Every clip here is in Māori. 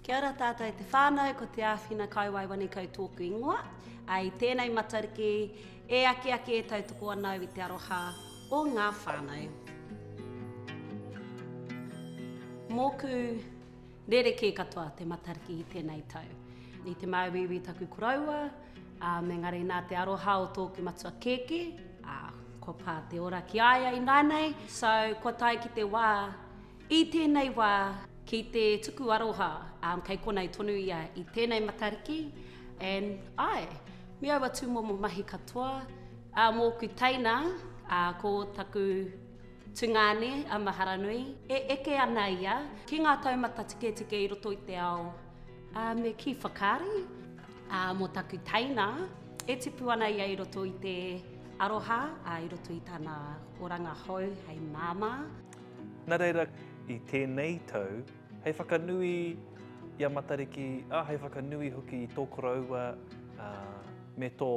Kia ora tātou e te whānau, ko Te Āwhina Kaiwai Wanikau tōku ingoa. I tēnei Matariki, e akiaki e tautoko ana au i te aroha o ngā whānau. Mōku rerekē katoa te Matariki i tēnei tau. I te māuiui taku koroua, engari nā te aroha o tōku matua kēkē, kua pā te ora ki a ia ināianei. So, kua tae ki te wā, I tēnei wā, ki te tuku aroha, um, kei konei tonu ia i tēnei Matariki, and ae, me aua tūmomo mahi katoa, ā, mōku teina, ā, ko taku tungāne a Maharanui, e eke ana ia ki ngā taumata tiketike i roto i te ao, ā, me kī whakaari, ā, mō taku teina, e tipu ana ia i roto i te aroha, ā, i roto i tana oranga hou hei māmā. Nā reira, i tēnei tau, hei whakanui i a Matariki, ā, hei whakanui hoki i tō koroua me tō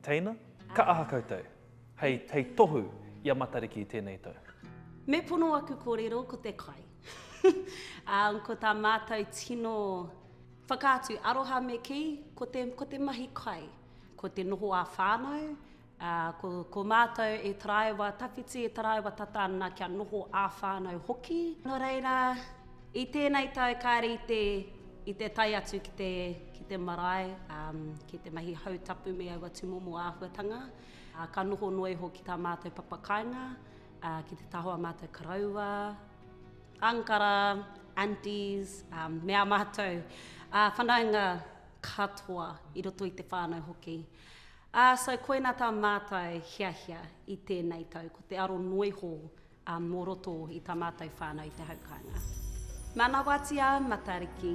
teina, ka aha koutou hei tohu i a Matariki i tēnei tau? Me pono aku kōrero ko te kai. Umm, ko tā mātou tino whakaatu aroha me kī, ko te mahi kai, ko te noho ā-whānau, Ā, ko, ko mātou e taraiwa tawhiti, e taraiwa tata ana kia noho ā-whānau hoki. Nō reira, i tēnei tau kāre i te, i te tae atu ki te, ki te marae, ā, ki te mahi hau tapu me aua tūmomo āhuatanga, ā, ka noho noa iho ki tā mātou papa kāinga, ā, ki te taha o ā mātou karaua, ankara, aunties, ā, me ā mātou, ā, whanaunga katoa i roto i te whānau hoki. Ā, so koina tā mātou hiahia i tēnei tau, ko te aro noiho ā mō roto i tā mātou whānau i te hau kāinga. Manawati ā Matariki.